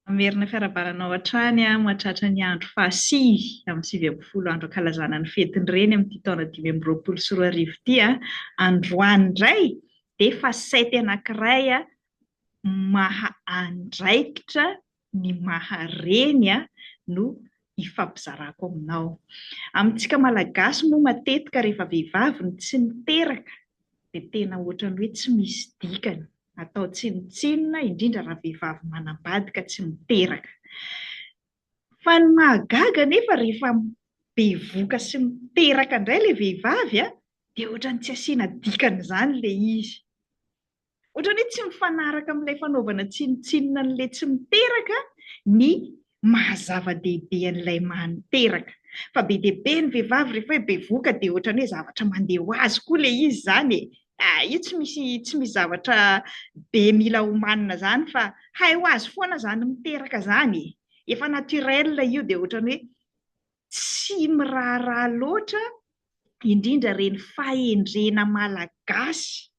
Hamerina fiarahabana anao hatrany aho hatratra ny andro fahasivy amin'ny sivy ambin'ny folo andro ankalazana ny fetin'ny Reny amin'ity taona dimy amby roapolo sy roa arivo ity a! Androany indray dia facette anankiray maha andraikitra ny maha reny ahy no ifampizarako aminao. Amintsika Malagasy moa matetika rehefa vehivavy no tsy niteraka dia tena ohatran'ny hoe tsy misy dikany, atao tsinontsinona, indrindra raha vehivavy manambadika tsy miteraka. Fa ny mahagaga anefa rehefa bevoka sy miteraka indray ilay vehivavy dia ohatran'ny tsy asiana dikany izany ilay izy. Ohatrany hoe tsy mifanaraka amin'ilay fanaovana tsinontsinona an'ilay tsy miteraka ny maha zava-dehibe an'ilay maha niteraka. Fa be dia be ny vehivavy rehefa hoe bevoka dia ohatrany hoe zavatra mandeha ho azy koa ilay izy izany e! ah, io tsy misy tsy misy zavatra be mila homanina izany fa hay ho azy foana izany miteraka izany e! efa naturel io dia ohatrany hoe tsy miraharaha loatra indrindra ireny fahendrena malagasy,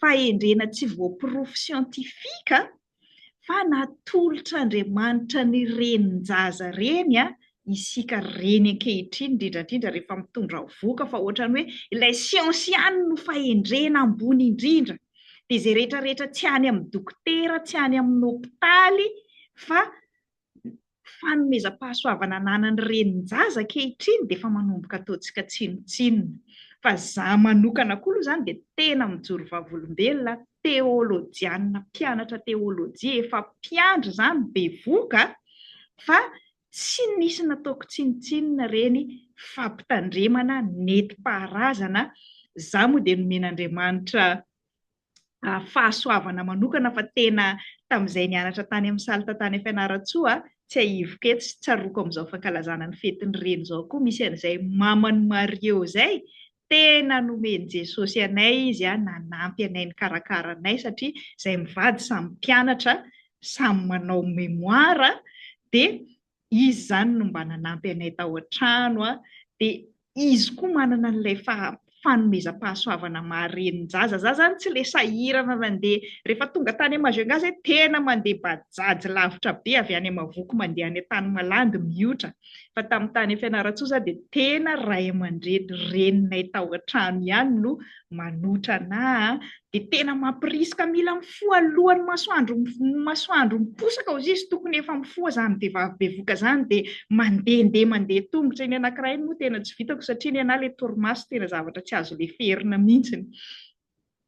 fahendrena tsy voaporofo siantifika fa natolotr'Andriamanitra ny renin-jaza ireny isika reny ankehitriny indrindra indrindra rehefa mitondra vohoka fa ohatran'ny hoe ilay siansa ihany no fahendrena ambony indrindra dia izay rehetra rehetra tsy any amin'ny dokotera, tsy any amin'ny hopitaly fa fanomezam-pahasoavana ananan'ny renin-jaza ankehitriny dia efa manomboka ataontsika tsinontsinona. Fa izaho manokana koa aloha izany dia tena mijoro vavolombelona, teolojianina, mpianatra teolojia, efa mpiandry izany bevoka, fa tsy nisy nataoko tsinontsinona ireny fampitandremana nentim-paharazana, izaho moa dia nomen'Andriamanitra fahasoavana manokana fa tena tamin'izay nianatra tany amin'ny Salta tany Fianarantsoa, tsiahiviko eto sy tsaroako amin'izao fankalazana ny fetin'ny Reny izao koa misy an'izay maman'i Mario izay, tena nomen'i Jesosy anay izy an, nanampy anay nikarakara anay satria izahay mivady samy mpianatra, samy manao mémoire dia Izy izany no mba nanampy anay tao an-trano, dia Izy koa manana an'ilay fanomezam-pahasoavana maha renin-jaza. Izaho izany tsy ilay sahirana nandeha, rehefa tonga tany Majunga izay tena mandeha bajaj lavitra be avy any Amavoky mandeha any Antanimalandy mihotra, fa tamin'ny tany Fianarantsoa izaho dia tena ray aman-dreny, reninay tao an-trano ihany no manotra anah, dia tena mampirisika mila mifoha alohan'ny masoandro masoandro miposaka hozy izy tokony efa mifoha zany vehivavy bevoka zany dia mandehandeha mandeha tongotra iny anankiray moa tena tsy vitako satria ny anahy le torimaso tena zavatra tsy azo leferina mihitsy ny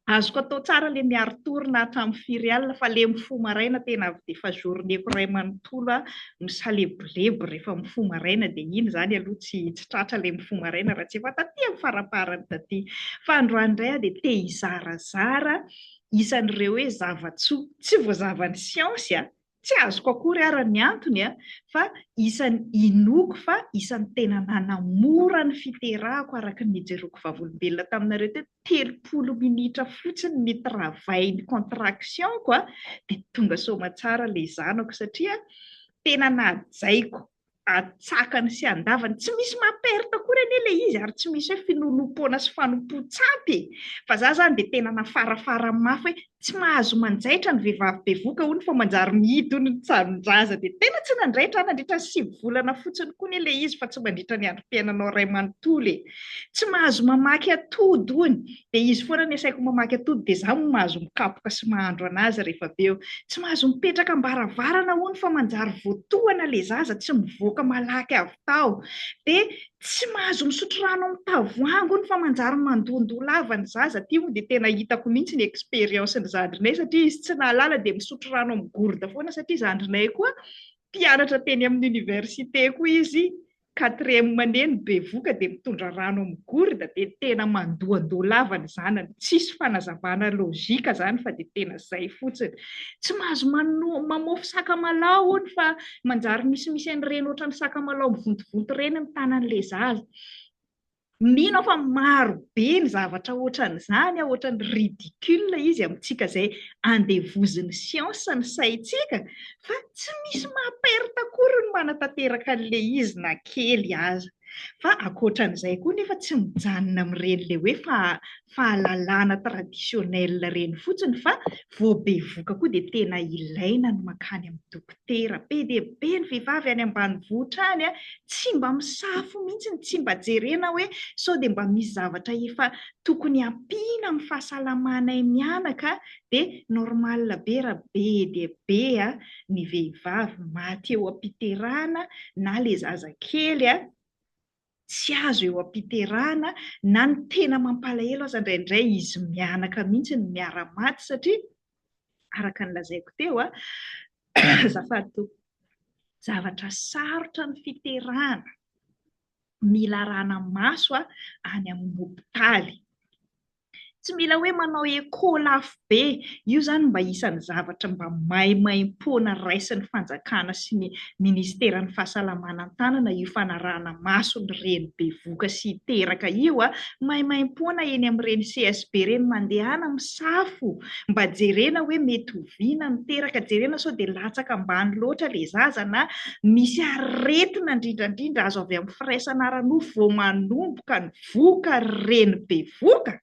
azoko atao tsara le miaro torina hatramin'ny firy alina fa le mifoha maraina tena avy dia efa journée-ko iray manontolo aho misalebolebo rehefa mifoha maraina dia iny izany aloha tsy tsy tratra ilay mifoha maraina raha tsy efa taty amin'ny faraparany taty. Fa androany indray aho dia te hizarazara isan'ireo hoe zava-tsoa tsy voazavan'ny siansy a! tsy azoko akory ara ny antony a! fa isan'ny inoako fa isan'ny tena nanamora ny fiterahako araka ny nijeroko vavolombelona taminareo teto, telopolo minitra fotsiny ny travail ny contraction ko dia tonga soamatsara ilay zanako satria tena najaiko atsakany sy andavany tsy misy maha perte akory anie ilay izy ary tsy misy hoe finolompoana sy fanompoan-tsampy e fa za zany dia tena nafarafara mafy hoe Tsy mahazo manjaitra ny vehivavy bevoka hono fa manjary mihidy hono ny tsarin-jaza dia tena tsy nandraitra aho nandritra ny sivy volana fotsiny koa anie ilay izy fa tsy mandritra ny androm-piainanao iray manontolo e! Tsy mahazo mamaky atody hono dia izy foana ny asaiko mamaky atody dia izaho moa mahazo mikapoka sy mahandro an'azy rehefa avy eo. Tsy mahazo mipetraka am-baravarana hono fa manjary voatohana ilay zaza tsy mivoaka malaky avy tao dia Tsy mahazo misotro rano amin'ny tavoahangy hono fa manjary mandohandoha lava ny zaza, ity moa dia tena hitako mihitsy ny expérience ny zandrinay satria izy tsy nahalala dia misotro rano amin'ny gourde foana satria zandrinay koa mpianatra teny amin'ny université koa izy quatrième année no bevoka dia mitondra rano amin'ny gourde dia tena mandohandoha lava ny zanany, tsisy fanazavana logique zany fa dia tena zay fotsiny. Tsy mahazo mano-mamofy sakamalaho hono fa Manjary misimisy an'ireny ohatran'ny sakamalaho mivontovonto ireny ny tanan'ilay zaza. Mino aho fa maro be ny zavatra ohatran'izany, ohatran'ny ridicule izy amintsika izay andevozin'ny siansa ny saintsika, fa tsy misy maha perte akory ny manatanteraka an'ilay izy na kely aza. Fa ankoatran'izay koa nefa tsy mijanona amin'ireny ilay hoe fahalalana traditionnel ireny fotsiny fa vao bevoka koa dia tena ilaina ny mankany amin'ny dokotera. dera be dia be ny vehivavy any ambanivohitra any, tsy mba misafo mihitsy ny tsy mba jerena hoe sao dia mba misy zavatra efa tokony hampiana amin'ny fahasalamanay mianaka dia normal be raha be dia be ny vehivavy maty eo am-piterahana na ilay zazakely Tsy azo eo am-piterahana na ny tena mampalahelo aza indraindray izy mianaka mihitsy no miara maty satria araka ny lazaiko teo a azafady tompoko zavatra sarotra ny fiterahana mila arahana maso a any amin'ny hopitaly. Tsy mila hoe manao écho lafo be, io izany mba isan'ny zavatra mba maimaimpoana raisin'ny fanjakana sy ny Ministeran'ny Fahasalamana an-tanana io fanarahana maso ny reny bevoka sy teraka io a! Maimaimpoana eny amin'ireny CSB ireny mandehana misafo mba jerena hoe mety oviana ny teraka, jerena sao dia latsaka ambany loatra ilay zaza na misy aretina indrindrandrindra azo avy amin'ny firaisana ara-nofo vao manomboka ny voka ry reny bevoka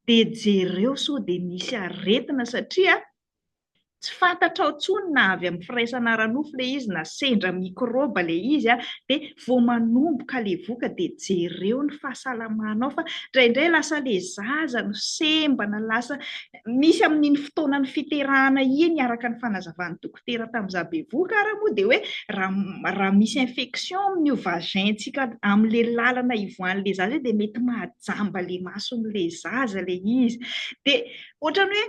dia jereo sao dia misy aretina satria tsy fantatrao tsony na avy amin'ny firaisana ara-nofo ilay izy na sendra mikrôba ilay izy dia vao manomboka ilay voka dia jereo ny fahasalamanao fa indraindray lasa ilay zaza no sembana lasa misy amin'iny fotoanan'ny fiterahana iny araka ny fanazavan'i dokotera tamin'ny za bevoka ary moa dia hoe raha raha misy infection amin'io vagin-tsika amin'le lalana ivoahan'le zaza io dia mety mahajamba le mason'le zaza le izy dia ohatrany hoe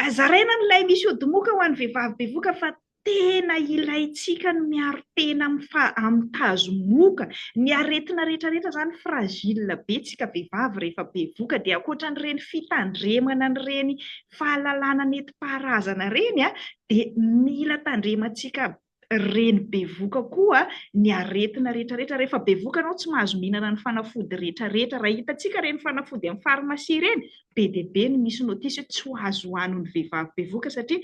azaraina an'ilay misy odimoka ho an'ny vehivavy bevoka fa tena ilaintsika ny miaro tena amin'ny fa amin'ny tazomoka ny aretina rehetra rehetra zany fragile be tsika vehivavy rehefa bevoka dia ankoatra an'ireny fitandremana an'ireny fahalalana nentim-paharazana ireny dia mila tandremantsika reny bevoka koa ny aretina rehetrarehetra. Rehefa bevoka ianao tsy mahazo mihinana ny fanafody rehetrarehetra. Raha hitantsika ireny fanafody amin'ny farmasia ireny, be dia be ny misy notice hoe tsy ho azo hohanin'ny vehivavy bevoka satria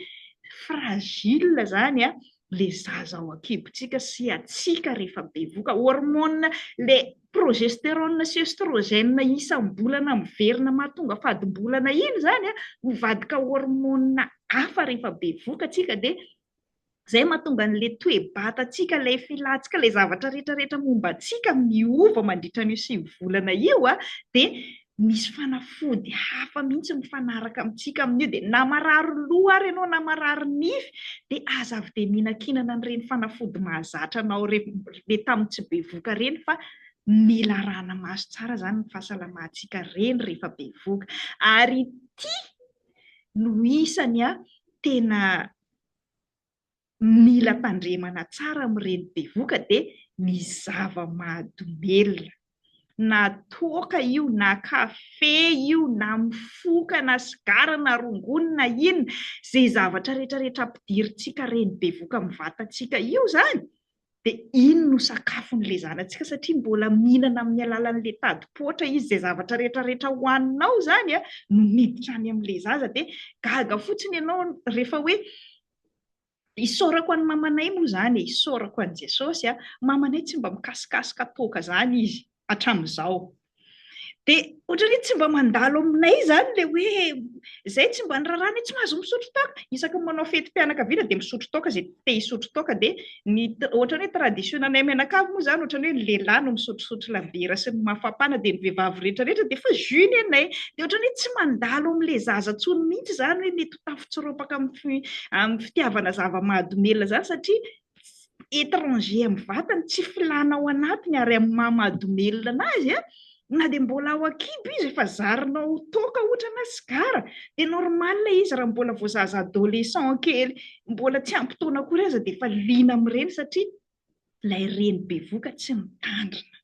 fragile izany le zaza ao an-kibotsika sy hatsiaka rehefa bevoka, hormone le progesterone sy oestrogène isam-bolana miverina mahatonga fadim-bolana iny zany a, mivadika hormone hafa rehefa bevoka antsika dia zay mahatonga an'le toe-batantsika, le filantsika, le zavatra retraretra momba antsika miova mandritra an'io sivy volana io a, dia Misy fanafody hafa mihitsy mifanaraka amintsika amin'io dia na marary loha ary ianao na marary nify dia aza avy dia mihinankinana an'ireny fanafody mahazatra anao ireny tamin'ny tsy bevoka ireny fa mila arahana maso tsara izany ny fahasalamantsika reny rehefa bevoka ary ity no isany tena mila tandremana tsara amin'ireny bevoka dia ny zava-mahadomelina. Na toaka io, na kafe io, na mifoka, na sigara, na rongony, na inona, izay zavatra rehetra rehetra ampidirintsika reny bevoka amin'ny vatantsika io izany dia iny no sakafon'ilay zanatsika satria mbola mihinana amin'ny alalan'ilay tadi-poatra izy, izay zavatra rehetra rehetra hohaninao izany no miditra any amin'ilay zaza, dia gaga fotsiny ianao rehefa hoe isaorako an'i mamanay moa izany e, isaorako an'i Jesosy a, mamanay tsy mba mikasikasika toaka izany izy. hatramin'izao. Dia ohatran'ny hoe tsy mba mandalo aminay izany ilay hoe izay tsy mba niraharaha ny hoe tsy mahazo misotro toaka. Isaky ny manao fetim-pianakaviana dia misotro toaka izay te hisotro toaka. Dia ny ohatran'ny hoe tradition-nay mianakavy moa izany ohatran'ny hoe ny lehilahy no misotrosotro labiera sy ny mafapana dia ny vehivavy rehetrarehetra dia efa jus ny anay. Dia ohatran'ny hoe tsy mandalo amin'ilay zaza intsony mihitsy izany hoe mety ho tafatsiropaka amin'ny fitiavana zava-mahadomelina izany satria étranger amin'ny vatany, tsy filana ao anatiny ary amin'ny maha mahadomelina azy a, na dia mbola ao an-kibo izy efa zarinao toaka ohatra na sigara dia normal ilay izy raha mbola vao zaza adolescent kely mbola tsy ampy taona akory aza dia efa liana amin'ireny satria ilay reny bevoka tsy mitandrina.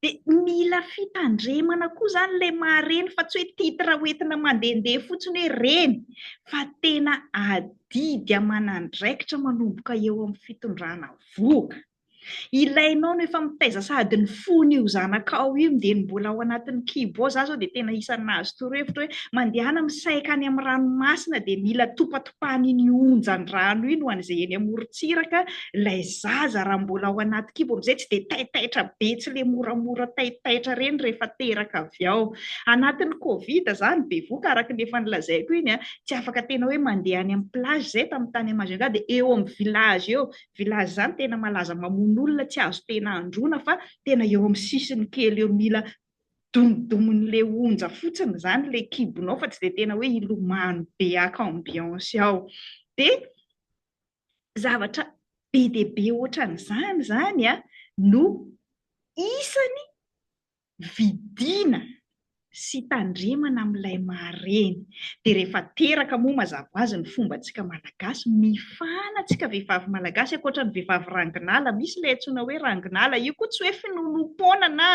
Dia mila fitandremana koa izany ilay maha reny fa tsy hoe titre hoentina mandehandeha fotsiny hoe reny fa tena adidy aman'andraikitra manomboka eo amin'ny fitondrana vohoka. Ilainao no efa mitaiza sady ny fony io zanakao io dia ny mbola ao anatin'ny kibo ao za zao dia tena isan'ny nahazo torohevitra hoe mandehana misaika any amin'ny ranomasina dia mila topa fa an' iny onjan-drano iny ho an' izay eny amoron-tsiraka, ilay zaza raha mbola ao anaty kibo amin' izay tsy dia taitaitra be, tsy ilay moramora taitaitra ireny rehefa teraka avy ao anatin' ny covid izany bevoka araka ny efa nolazaiko iny an, tsy afaka tena hoe mandeha any amin' ny plage izay tamin' ny tany amin' ny Majunga dia eo amin' ny village eo, village izany tena malaza mamono olona tsy azo tena androana fa tena eo amin' ny sisiny kely eo mila domodomon'le onja fotsiny izany ilay kibonao fa tsy dia tena hoe hilomano be haka ambiance ao. Dia zavatra be dia be ohatran'izany izany no isany vidiana sy tandremana amin'ilay maha reny. dia rehefa teraka moa mazava ho azy ny fomba antsika malagasy mifana antsika vehivavy malagasy ankoatra ny vehivavy ranginala misy ilay antsoina hoe ranginala io koa tsy hoe finoanoam-poana na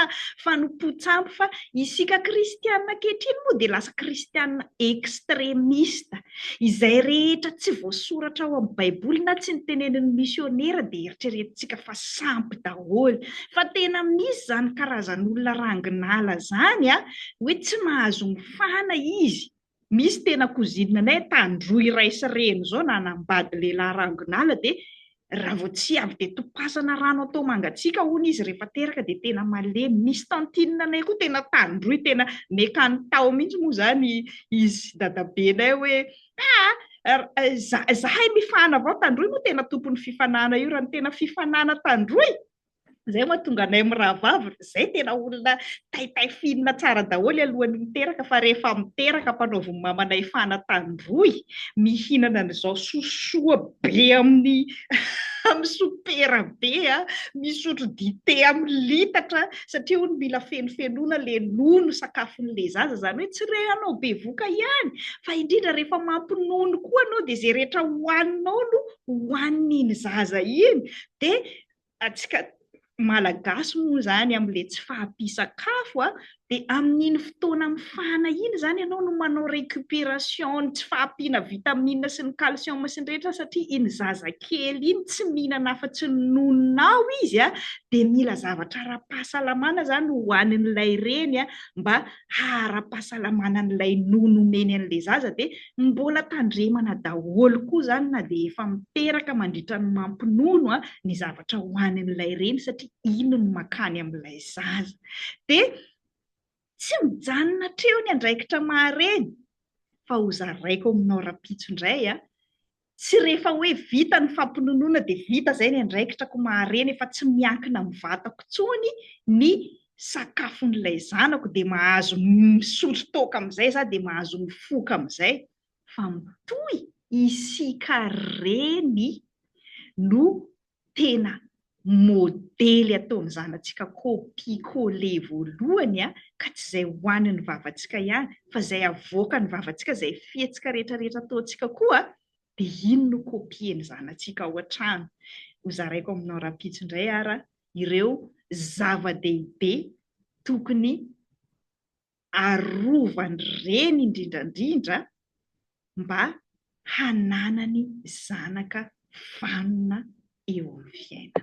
fanompoan-tsampy fa isika kristiana ankehitriny moa dia lasa kristiana extremista izay rehetra tsy voasoratra ao amin'ny baiboly na tsy nitenenin'ny misionera dia eritreretintsika fa sampy daholo fa tena misy izany karazan'olona ranginala izany a hoe tsy mahazo Fahana izy, misy tena cousine nay tandroy ray sy reny zao nanambady lehilahy rangonala dia raha vao tsy avy dia topasana rano atao mangatsiaka hono izy rehefa teraka dia tena malemy, misy tantine nay koa tena tandroy tena mekany tao mihintsy moa zany izy sy dadabe nay hoe haa zahay mifahana avao tandroy moa tena tompony fifanana io raha ny tena fifanana tandroy Izay no mahatonga anay mirahavavy ry izay tena olona taitay finina tsara daholo alohan'ny miteraka fa rehefa miteraka mpanaovy ny mamanay fanatandroy mihinana an'izao sosoa be amin'ny amin'ny sopera be a, misotro dite amin'ny litatra satria hono mila fenofenoana le nono sakafon'le zaza izany hoe tsy re anao bevoka ihany fa indrindra rehefa mampinono koa anao dia izay rehetra hohaninao no hohanin'iny zaza iny dia Antsika Malagasy moa izany amin'ilay tsy fahampian-tsakafo dia amin'iny fotoana mifana iny izany ianao no manao récupération ny tsy fahampiana vitamine sy ny calcium sy ny rehetra satria iny zazakely iny tsy mihinana afa-tsy ny nononao izy dia mila zavatra ara-pahasalamana izany hohanin'ilay reny mba ara-pahasalamana an'ilay nono omeny an'ilay zaza dia mbola tandremana daholo koa izany na dia efa miteraka mandritra ny mampinono ny zavatra hohanin'ilay reny satria iny no makany amin'ilay zaza. Dia tsy mijanona hatreo ny andraikitra maha-reny fa hozaraiko aminao rahampitso indray Tsy rehefa hoe vita ny fampinonoana dia vita izay ny andraikitrako mahareny efa tsy miankina amin'ny vatako intsony ny sakafon'ilay zanako dia mahazo misotro toaka amin'izay za dia mahazo mifoka amin'izay fa mitohy isika reny no tena modely ataon'ny zanatsika copie coller voalohany a, ka tsy izay ho an'ny vavantsika ihany fa izay avoakan'ny vavantsika, izay fihetsika rehetra rehetra ataontsika koa dia iny no copien'ny zanatsika ao an-trano. Hozaraiko aminao rahampitso indray ara ireo zava-dehibe tokony arovany reny indrindrandrindra mba hananany zanaka vanona eo amin'ny fiainana.